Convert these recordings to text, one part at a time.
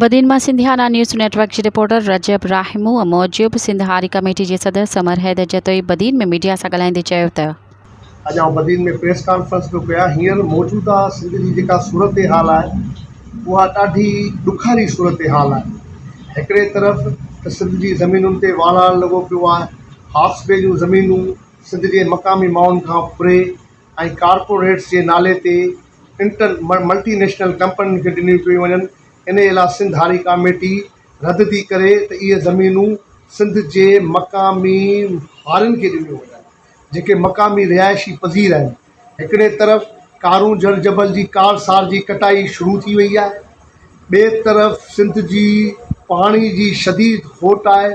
بدين مان Sindhiana news network جي reporter Rajab Rahmoo موجب سنڌ هاري ڪميٽي جي صدر سمر حيدر جتوئي بدين ۾ ميڊيا سان ڳالهائيندي چيو ته. اڄ آئون بدين ۾ پريس ڪانفرنس پيو ڪيان هينئر موجوده سنڌ جي جيڪا صورتحال آهي اها ڏاڍي ڏکاري صورتحال آهي هڪڙي طرف ته سنڌ جي زمينن تي واڙاڻ لڳو پيو آهي هاڪس بي جون زمينون سنڌ جي مقامي ماڻهن کان پري ۽ ڪارپوريٽس جي نالي تي انٽر ملٽي نيشنل ڪمپنين کي ڏنيون پيون وڃن انهي لاء سنڌ هاري ڪاميٽي رد ٿي ڪري ته اهي زمينون سنڌ جي مقامي هارين کي ڏنيون وڃن جيڪي مقامي رهائشي پذير آهن هڪڙي طرف ڪارون جهڙ جبل جي ڪار سار جي ڪٽائي شروع ٿي وئي آهي ٻي طرف سنڌ جي پاڻي جي شديد کوٽ آهي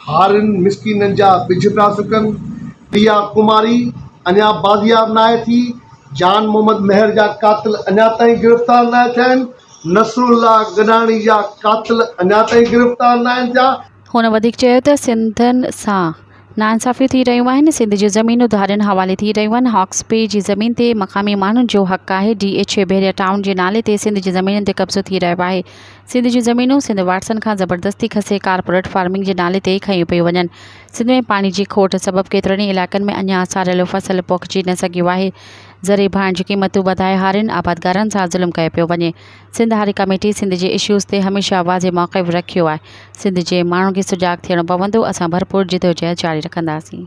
هارين مسڪينن جا ٻج پيا سڪن، پيا ڪماري اڃا بازياب ناهي ٿي، جان محمد مهر جا قاتل اڃا تائين گرفتار ناهي ٿيا آهن، نصرالله گڏاڻي جا قاتل اڃا تائين گرفتار ناهن ٿيا. هن وڌيڪ چيو ته سنڌين سان ناانصافيون ٿي رهيون آهن، سنڌ جون زمينون ڌارين حوالي ٿي رهيون آهن، هاڪس بي جي زمين تي مقامي ماڻهن جو حق آهي، D H A Bahria town جي نالي تي سنڌ جي زمينن تي قبضو ٿي رهيو آهي، سنڌ جون زمينون سنڌ واٽسن کان زبردستي کسي ڪارپوريٽ فارمنگ جي نالي تي کنيون پيون وڃن، سنڌ ۾ پاڻي جي کوٽ سبب ڪيترن ئي علائقن ۾ اڃا ساريل فصل پوکجي نه سگهيو آهي، زرعي ڀاڻ جون قيمتون وڌائي هارين آبادگارن سان ظلم ڪيو پيو وڃي، سنڌ هاري ڪميٽي سنڌ جي اشوز تي هميشه واضح موقف رکيو آهي، سنڌ جي ماڻهن کي سجاڳ ٿيڻو پوندو، اسان ڀرپور جدوجهد جاري رکنداسين.